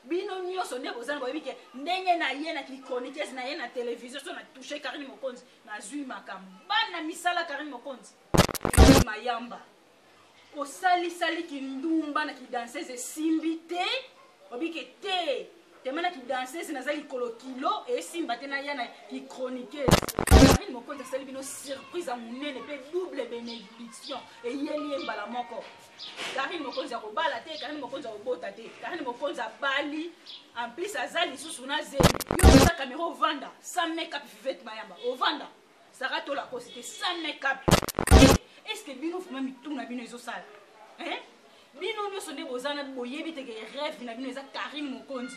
bino nyonso nde bozana boyebi ke ndenge na ye na kichroniquese na ye na televizio so na touche karine mokonzi nazwi makambo bana misala karine mokonzi ezali mayamba osalisali kindumba na kidansese esimbi te obike te tema na kidansese naza likolo kilo esimba te naya na kichroniquese karine mokonzi asali bino surprise ya monene mpe double benediction eyeli ye mbala moko Karine Mokonzi akobala te, Karine Mokonzi akobota te. Karine Mokonzi abali, en plus aza lisusu na zemi. Yo oza kamera ovanda, sans make-up Fivette Mayamba, ovanda. Sarah Tola kosi te, sans make-up. Est-ce que bino vraiment mituna bino ezosala? Hein? Bino nyoso nde boza na boyebi te que rêve na bino eza Karine Mokonzi.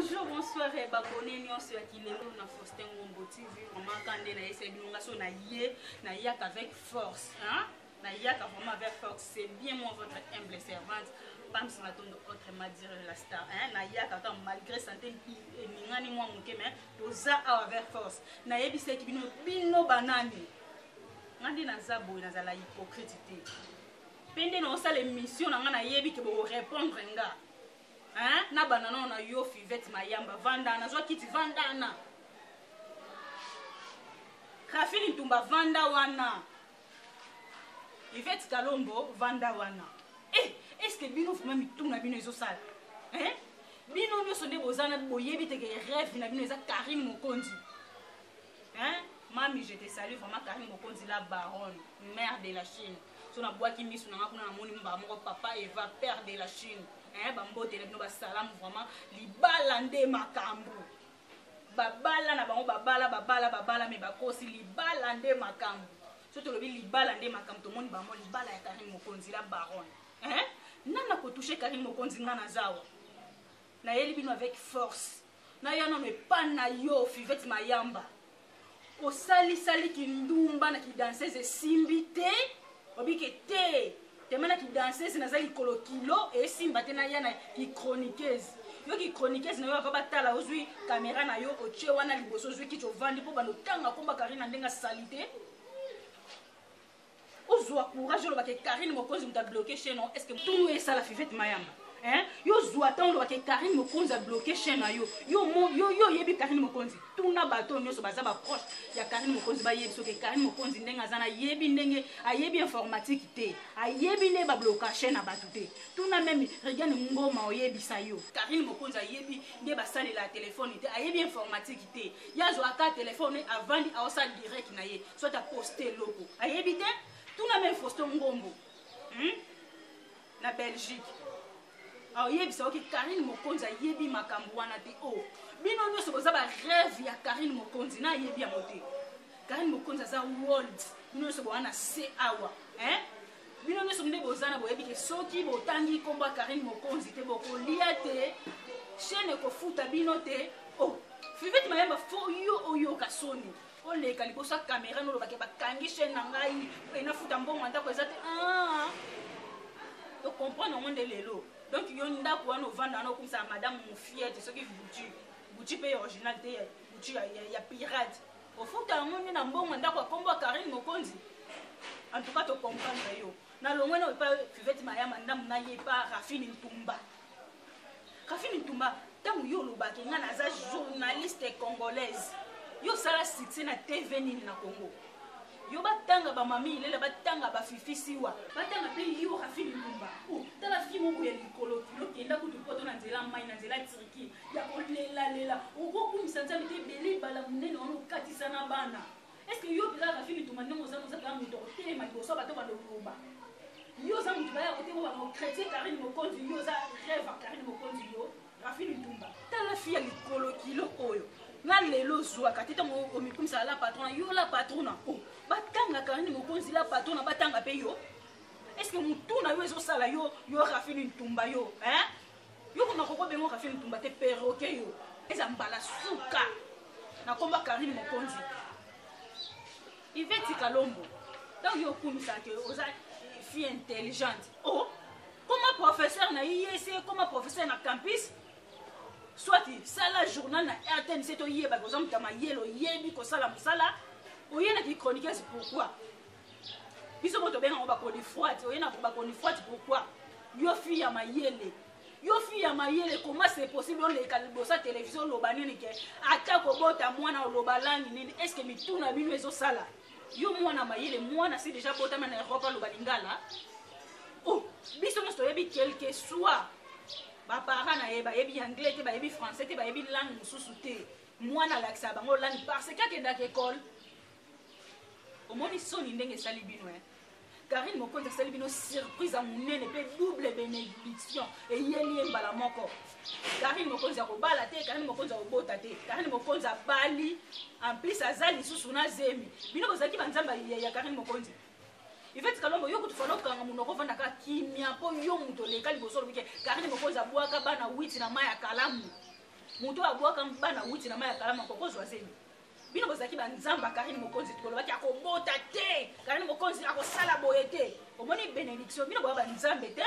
bonjour bonsoir eh, babone nyonso ya kilelo na faustin ngombo tv vraiment ka nde nayesai bino nga so naye nayaka avec force hein? nayaka vraiment avec force c'est bien moi votre humble servante pamsi matondo autrement dire la star hein? nayaka kaka malgré santé emingani mwa moke mais toza awa avec force nayebisaki bino bino banani nga nde naza boye nazala hypocrite te mpe nde naosala emission na ngai nayebi ke bokorepondre nga na banda nao na yo fivete mayamba vandana nazwa kiti vandana rafini ntumba vanda wana ivete kalombo vanda wana e eh, estce bino vrima mitu na bino ezosala eh? bino nyonso nde boza na boyebi teke reve na bino eza karine mokonzi hein mami je te salue vraiment Karine Mokonzi la baronne mère de la Chine so na bwaki misu na nga kuna na moni mbaa moko papa Eva père de la Chine hein ba mbote na bino ba salamu vraiment libala nde makambo babala na bango babala babala babala me bakosi libala nde makambo so tolobi libala nde makambo tomoni bango libala ya karine mokonzi la baronne hein nana kotouche karine mokonzi nga na zawa nayeli bino avec force naya nano epa na yo fivete mayamba osalisali kindumba na kidansese esimbi te obike te tema na kidansese naza likolo kilo esimba te naya na kichroniquese yo kichroniquese na yo ava batala ozwi kamera na yo otye wana liboso ozwi kiti ovandi mpo banda otanga komba karina ndenge asali te ozwa courage oloba ke karine mokonzi moto abloke chaine no estce tunu esala fivete mayamba hein yo zwa ntango olobaka karine mokonzi abloke chaine na yo yo oyebi karine mokonzi tuna bato oyo nyonso baza baproche ya karine mokonzi bayebi soki karine mokonzi ndenge aza nayebi ndenge ayebi informatique te ayebi nde babloka chaine na bato te tuna meme regiane ngoma oyebisa yo karine mokonzi ayebi nde basalela telefone te ayebi informatique te ye azwaka telefone avandi aosala direct na ye soit aposte eloko ayebi te tuna meme fausto ngombo hmm? na belgique aoyebisa oke karine mokonzi ayebi makambo wana te o oh, bino nyonso boza bareve ya karine mokonzi na ayebi yango te karine mokonzi aza world bino nyonso bowana se awa eh? bino nyonso nde boza na boyebi ke soki botangi nkombo ya karine mokonzi te bokolia te chaine ekofuta bino te o oh, fivete mayamba fo yo oyoka soni oleka liboso ya camera nolobake bakangi chaine na ngai mpe nafuta mbongo ya ndako eza te ah! tocomprendre yango nde lelo donc yo ndako wana ovanda wana okumisa ya madame mofiete soki butu butu mpe original te butu ya, ya, ya pirate ofuta yango nde na mbongo ya ndako ya nkombo ya karine mokonzi en tout cas tocomprendre yo nalongwe na epa fivete mayama ndambo na ye epa rafine ntumba Raphine Ntumba, ntango yo olobaka nga naza journaliste congolaise, yo osala succès na TV nini na Congo? yo batanga bamami ilela batanga bafifi siwa batanga mpe yo rafini lumba oh, tala fi moko ya likolo kilo kenda kutu poto na nzela mai na nzela turki ya kolelalela okokumisa nzambe te ebele bala monene wana okatisa na bana Est-ce que yo peza Rafi Mitumba ndenge oza oza peza moto otelema liboso bato ba lokuba yo oza moto baya kote ko bana chrétien Karine Mokonzi yo oza rêve Karine Mokonzi yo Rafi Mitumba tala fi ya likolo kilo oyo na lelo ozwaka te ntango omikumisaka la patrona yo la patrona o oh, batanga Karine Mokonzi la patrona batanga mpe yo est ce que motu na yo ezosala yo yo Rafi Mitumba yo hein Yo koma koko bengo kafe mutumba te perroquet yo. Eza mbala suka. Na komba Karine Mokonzi. Iveti Kalombo. Donc yo kumisa que oza fille intelligente. Oh, comment professeur na IEC, comment professeur na campus soit sala journal na rtnc toyeba koza moto ya mayele oyebi kosala mosala oye na kichroniqueuse pourquoi biso bo tobenga ngo bakonifwati oye na bakonifwati pourquoi yo fi ya mayele yo fi ya mayele koma se possible oleka liboso ya televizio oloba nini ke ata kobota mwana oloba langi nini estce mituna bino ezosala yo mwana mayele mwana si deja botama na europe aloba lingala o oh, biso nyonso toyebi quelque soit baparent na ye bayebi anglais te bayebi français te bayebi langue mosusu te mwana alakisa bango langue parce que akendaka ekole omoni soni ndenge esali bino eh? karine mokonzi asali bino surprise ya monene mpe double benediction eyeli ye mbala moko karine mokonzi akobala te karine mokonzi akobota te karine mokonzi abali en plus aza lisusu na zemi bino bozalaki banzambe ya karine mokonzi ivete kalombo yo kutu fana okanga monoko ofanda kaka kimia mpo yo moto oleka liboso olobike karine mokonzi abwaka bana witi na mai ya kalamu moto abwaka bana witi na mai ya kalamu akokozwa zemi bino bozalaki banzambe ya karine mokonzi tolobaki akobota te karine mokonzi akosala boye te omoni benediction bino boya banzambe te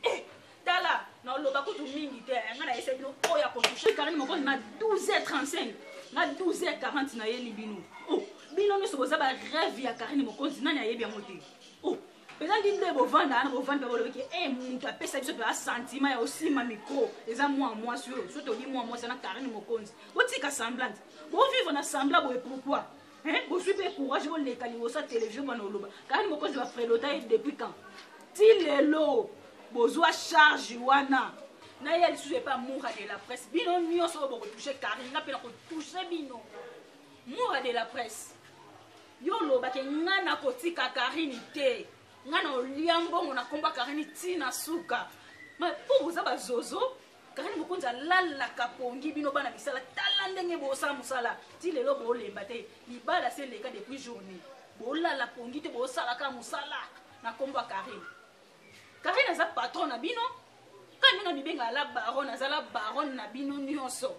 eh, tala naloba kutu mingi te eh, ngai nayesa bino oyo akotushe karine mokonzi na 12h35 na 12h40 nayeli bino oh, bino nyonso boza bareve ya karine mokonzi nani ayebi yango te oh, ezalaki nde bovanda wana bovandi mpe bolobi ke e moto apesa biso mpenza sentiment ya kosimba mikro eza mwa mwasi oyo so toyebi mwa mwasi wana karine mokonzi botika semblante bovivre na sembla boye pourquoi bozwi mpe courage boleka liboso ya televizio bwana oloba karine mokonzi bafrelota ye depuis quand ti lelo bozwa charge wana na ye lisusu epa mura de la presse bino nyonso oyo bokotouche karine nga mpe nakotouche bino mura de la presse yo oloba ke nga nakotika karini te nga na olia mbongo na komba karini ti na suka mpo boza bazozo karini mokonzi alalaka pongi bino bana misala tala ndenge bosala mosala ti lelo bolemba te libala se eleka depuis journée bolala pongi te bosalaka mosala na kombo ya karini karini aza patron na bino kani ndenge mibenga ala baron azala baron na bino nyonso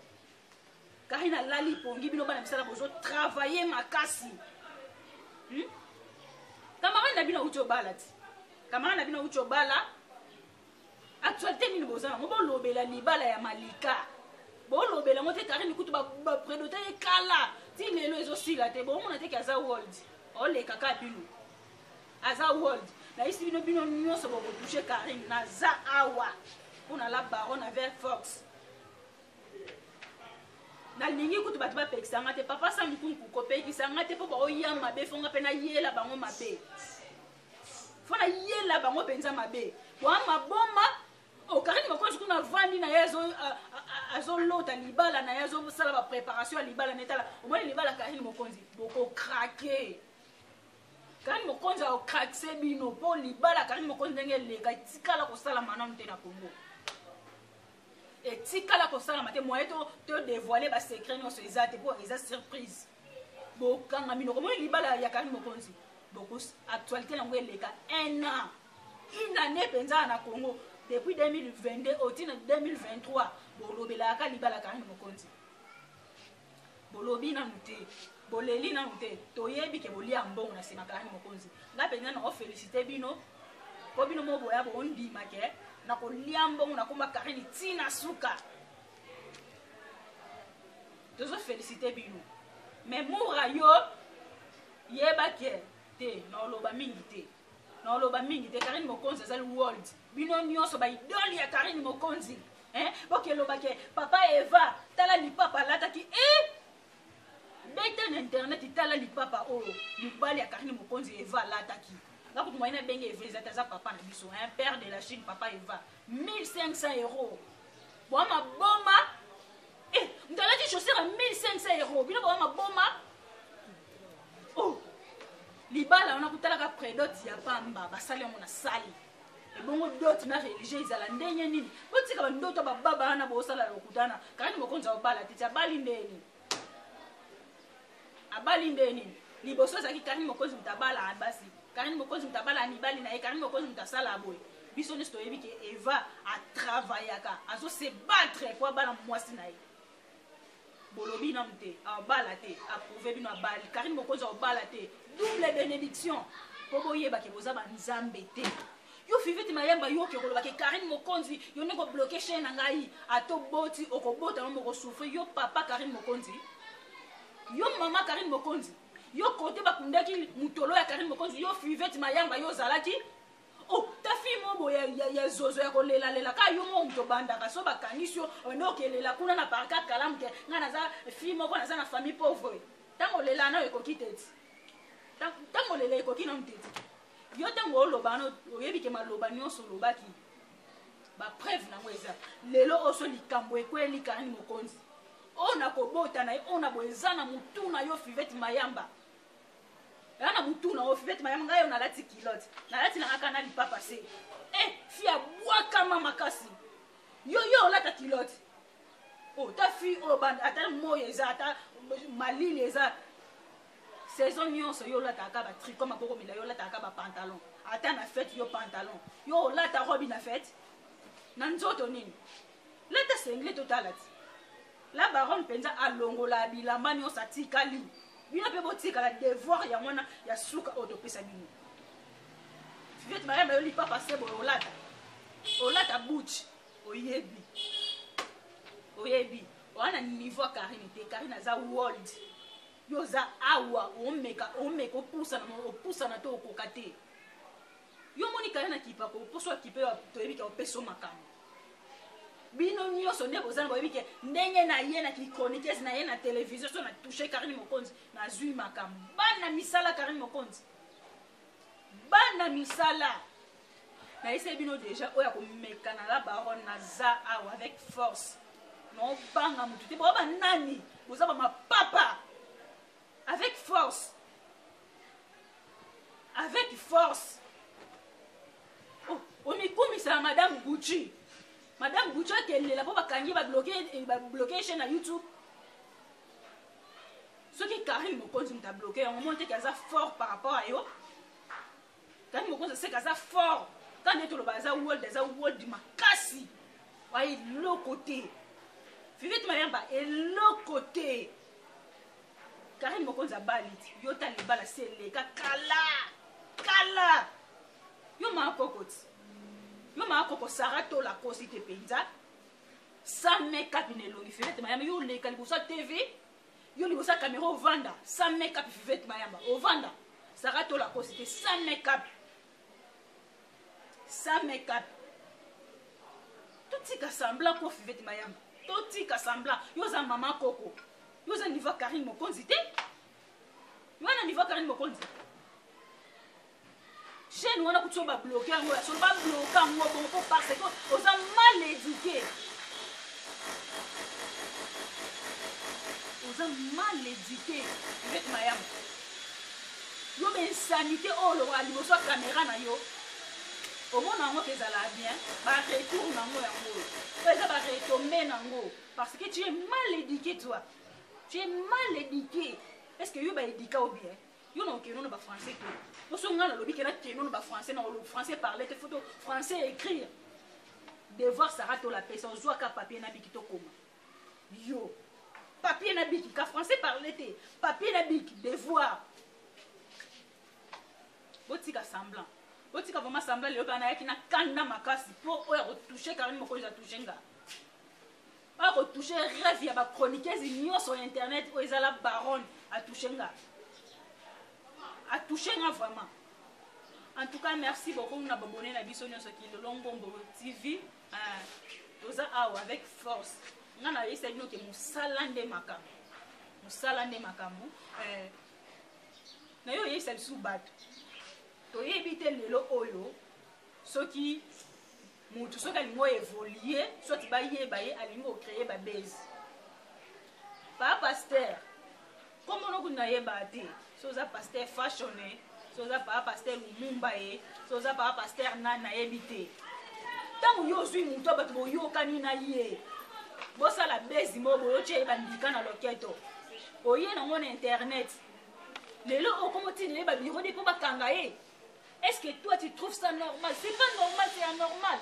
kari na lali pongi bino bana misala bozo travaille makasi hmm? camarade na bino auti obala ti camarade na bino auti obala actualité nini boza nango bolobela libala ya malika bolobela yango te karine kutu bapredota ye kala ti lelo ezosila te bomona te ke aza world oleka ka bino aza world nayisi bino bino nyonso bokotouche karine naza awa mpo na la baron na ver fox nalingi kutu bato bapekisa nga te papa sa nkunku kopekisa nga te mpo baoya mabe fo nga mpe nayela bango mabe fo nayela bango mpenza mabe bwa maboma okarine oh, mokonzi kuna avandi na ye azolota libala na ye azosala bapreparation ya libala na etala omoni libala karine mokonzi bokokrake karine mokonzi aokrakise bino mpo libala karine mokonzi ndenge eleka etikala kosala manano te na kongo etikala kosalama te moye to devoile basecret nyonso eza te mpo eza surprise bokanga minoko omoni libala ya karine mokonzi bokus actualité yango eleka un an une année mpenza na congo depuis 2022 otina 2023 bolobelaka libala karine mokonzi bolobi nanu te boleli nanu te toyebi ke bolia mbongo na sima kalani mokonzi nga mpenza na ofelicite bino mpo bino mo boya bondima ke na kolia mbongo na komba karini ti na suka tozo felicite bino me mura yo yeba ke te na oloba mingi te na oloba mingi te karine mokonzi azali world bino nyonso baidole ya karine mokonzi eh? bokelobake papa eva tala lipapa alataki e eh? beta na internet tala lipapa oyo oh, mobali ya karine mokonzi eva alataki nga kutu moyene abenge eva ezati aza papa na biso un père de la chine papa eva 1500 euros bwa maboma Eh, moto alati chaussure ya 1500 euro bino bawa maboma oh, libala wana kotalaka predot ya pamba basali yango na sali ebongo dot na religieux ezala ndenge nini botika bandoto bababa wana bosala lokutana kakani mokonzi ya obala te ti abali ndeni abali nde nini liboso ezalaki karine mokonzi moto abala basi karine mokonzi moto abala mibali na ye karine mokonzi moto asala boye biso nyonso toyebi ke eva atravayaka azo se battre mpo abala mwasi na ye bolobi nanu te abala te aprouve bino abali karine mokonzi abala te double benediction mpo boyebake boza banzambe te yo fiviti mayamba yo oke koloba ke karine mokonzi yo nde kobloke chaine na ngai ata oboti okobota no mokosouffri yo papa karine mokonzi yo mama karine mokonzi yo kote bakundaki motolo ya karine mokonzi yo fiveti mayamba yo ozalaki oh, ta fille moko boye ya, ya, ya zozo ya kolelalela kaka yo moko moto obandaka so bakangisi yo obanda okelela kuna na parka kalamu te ngai naza fille moko naza na famille pauvre ntango olela nayo ekoki te ti ntango olela ekoki nanu te ti yo ntango oloba wana oyebi ke maloba nyonso olobaki bapreuve nango eza lelo oyo so likambo ekweli kanani mokonzi oyo na kobota na ye oyo na boye eza na motu na yo fivete mayamba eza na motu na yo fivete mayamba ngai oyo nalati kilote nalati na kaka na lipapa se e eh, fi abwakama makasi yo yo olata kilote ota oh, fi oyo oh, ata moi eza ata malili eza Saison nionso yo olataka kaka ba tricot maboko milayi olataka kaka ba pantalon ata na fete yo pantalon yo olata robi na fete na nzoto nini lata sengle totala ti la baronne mpenza alongola bilamba nyonso atikali bino mpe botikala devoir ya mwana ya suka oyo topesa bino viet mariam ayo lipapa se boye olata olata buch oyebi oyebi oa na niveau ya karine te karine aza world yo oza awa omeka omeka opusana opusana to okoka te yo omoni kala na kipa ko mposo akipe toyebi ke opeso makambo bino nyonso nde boza na boyebi ke ndenge na ye na kichroniquese na ye na televizio so na touche karine mokonzi nazwi makambo bana misala karine mokonzi bana misala nayesai bino deja oyo akomekana la baronne naza awa avec force naobanga motu te boa banani boza bamapapa avec force avec force oh, omikumisa ya madame gucci madame gucci akelela mpo bakangi babloke eh, chaine ya youtube soki karine mokonzi moto abloke yango moni teke aza fort par rapport ya yo Tani mokonzi aseka aza fort. Tani nde toloba aza world aza world makasi. Wa eloko te. Fivette Mayamba eloko te. Karine mokonzi abali yo ta libala se eleka kala kala yo maa kokoti yo maa koko sara tola kosi te mpenza 100 makeup na elongi fenete mayama yo oleka liboso ya tv yo liboso ya camera ovanda sans make up vivete mayamba ovanda sara tola kosi te sans make up sans make up totika semblant ko vivete mayamba totika semblant yo oza mama koko yo oza niveau karine mokonzi te yo wana niveau karine mokonzi chaîne wana kutu ba bloquer yango ya solo ba bloquer yango bongo po parce que oza mal éduqué oza mal éduqué ivete mayamu yo ba insanité oyo olokola liboso ya kamera na yo omona yango mpe ezalaka bien baretour na yango yango oyo oyo eza baretombe na yango parce que tu es mal éduqué toi tu es mal éduqué est ce que yo baédika o bien yo na okeno na bafrançais te poso ngai nalobi ke nakeno na bafrançais na olobi français parle te foto français écrire devoir sara tola pesa ozwaka papier na biki tokoma yo papier na biki ka français parle te papier na biki devoir botika semblant botika vraimen semblant lelo bana yaki na kanda makasi mpo oyo akotouche karine mokonzi atouche nga oyo ako touche rêve ya ba chroniqueuse nyonso ya internet oyo ezala baronne atouche nga atouche nga vraiment en tout cas merci beaucoup na babone na biso nyonso kilolo ngombo tv euh, toza awa avec force nga nayebisa bino ke mosala nde makambo mosala nde makambo euh, nayo oyebisa lisusu bato toyebi te lelo oyo soki mutu soki alingi o evolue soit bayeba ye alingi kocreye babase pa paster kombono kutu nayeba te so oza paster fashone so oza paa paster lumumba ye so oza paa paster nani nayebi te ntango yo ozwi moto bato boyokani na ye bosala bezi moko boyotya ye bandika na loketo oye nango na internet lelo okomotindele babiro de mpo bakanga ye Est-ce que toi tu trouves ça normal C'est pas normal, c'est anormal.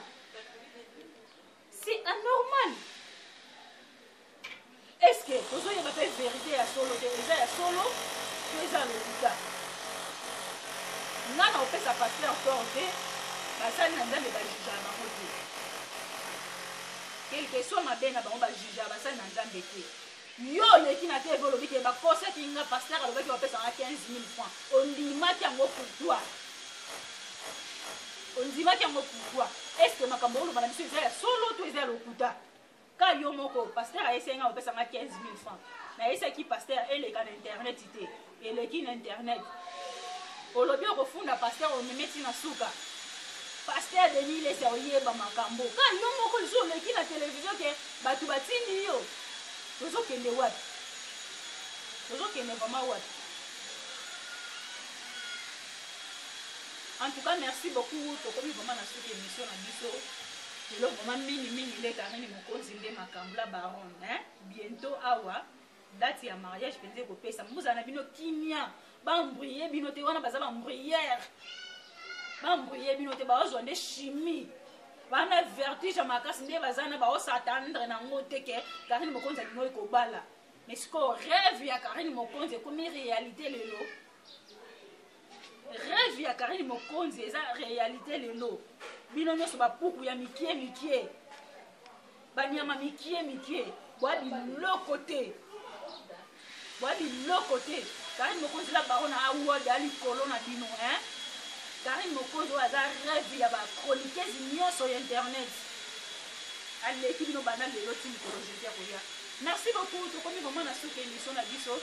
C'est anormal. Est-ce que vous avez la vérité à solo, que les à solo, que les à l'hôpital Nana, on fait sa passer encore, ok Basali na nzambe bajuja na bango te quelque soit mabe na bango bajuja basali na nzambe te Yo oleki na TV olobi ke bakosaki nga pasteur alobaki bapesa nga 15000 francs ondimaki yango pourquoi? Ondimaki yango pourquoi? Est ce que makambo oloba na biso eza ya solo to eza ya lokuta? Ka yo moko pasteur ayesaki nga bapesa nga 15000 francs nayesaki pasteur eleka na internet te. eleki na internet olobi okofunda paster omeme ti na suka paster denis lesi aoyeba makambo ka yo moko lisusu oleki na televizio ke bato batindi yo tozokende wapi tozokende vraimen wapi en tout cas merci beaucoup tokomi vraimen na suki émission na biso lelo vraimen mingi mingi nde karini mokonzi nde makambo la baronne bientôt awa date ya mariage mpenza ekopesa bozala na bino kimia bambrie bino te wana baza bambriere bambrie bino te baozwa nde chimie bana vertige ya makasi nde baza na baosatandre nango te ke karine mokonzi alingo ekobala mais sikoyo rêve ya karine mokonzi ekomi réalité lelo rêve ya karine mokonzi eza réalité lelo bino nyonso bapuku ya mikie mikie banyama mikie mikie bwa biloko te bwa biloko te karine mokonzi la baro na award ya likolo na bino hein karine mokonzi oyo aza reve ya bachroniquese nyonso ya internet aleki bino banda lelo ti mikolo jeudi akoya merci beaucoup tokomi vraiment na suka émission na biso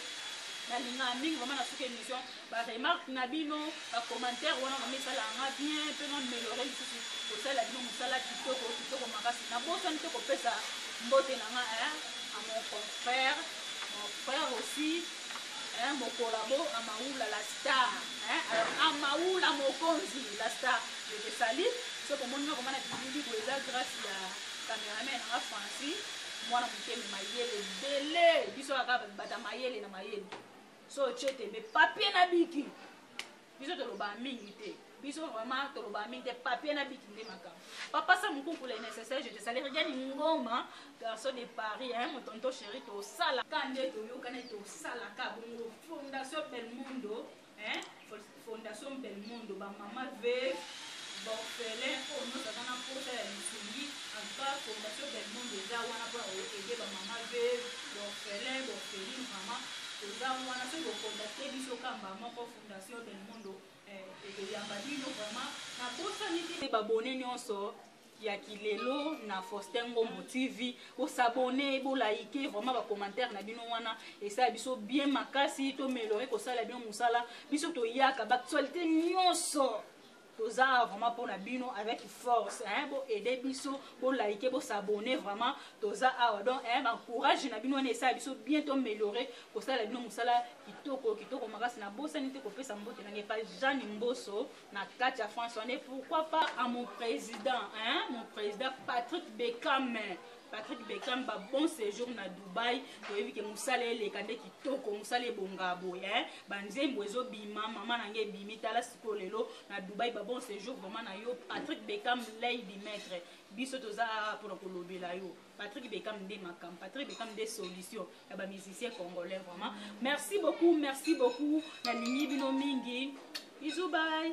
nalingaka mingi vraiment na suka émission ba remarque na bino ba commentaire wana vraiment esalaka nga bien mpe na melore lisusu kosalela bino mosala kitoko kitoko makasi nabosani te kopesa mbote na nga eh, a mon confrère mon frère aussi eh, mokolabo amaula la star eh, alors amaula mokonzi la star je te sali soki omoni nga komana bilili boye eza grâce ya cameraman nanga francis mwana mokeli mayele ebele biso kaka bata mayele na mayele so otye tembe papie na biki biso tolobaa mingi te biso vraiment tolobaa mingi te papie na biki nde makambo papa sa mokuku le nécessaire je te salaire gani ngoma garçon de paris hein, mon tonto chéri tosalaka nde toyokani tosalaka bongo fondation belmondo hein? Fondation Belmondo ba mama veuve ba orphelin oyo nyonso aza na mposa ya lisungi en tout cas Fondation Belmondo eza wana mpona koede ba mama veuve ba orphelin ba orpheline vraiment toza wana soki bocontacte biso kamba moko Fondation Belmondo eh, ekoyamba bino vraiment nabosani te babone nyonso ya kilelo na faustin ngombo tv bosabone bolaike vraiment bacommentaire na bino wana esala biso bien makasi tomelore kosala bino mosala biso toyaka baactualité nyonso toza awa vraiment mpo na bino avec force hein, boaide biso bolaike bosabone vraiment toza awa donc hein, bancourage na bino wana esala biso bien toameliore kosala bino mosala kitoko kitoko makasi nabosani te kopesa mbote na ngai epai jeanne mboso na kati ya france wana pourquoi pas à mon président hein? mon président patrick beckham patrick beckham ba bon séjour na dubai toyebi ke mosala eleka nde kitoko mosala ebonga boye hein? banzembo ezobima mama na ngai ebimi tala sikoyo lelo na dubai ba bon séjour vraiment na yo patrick beckham lady maître biso toza mpona kolobela yo Patrick Beckham nde makam Patrick Beckham nde solution ya ba musiciens congolais vraiment merci beaucoup merci beaucoup nalingi bino mingi bisous bye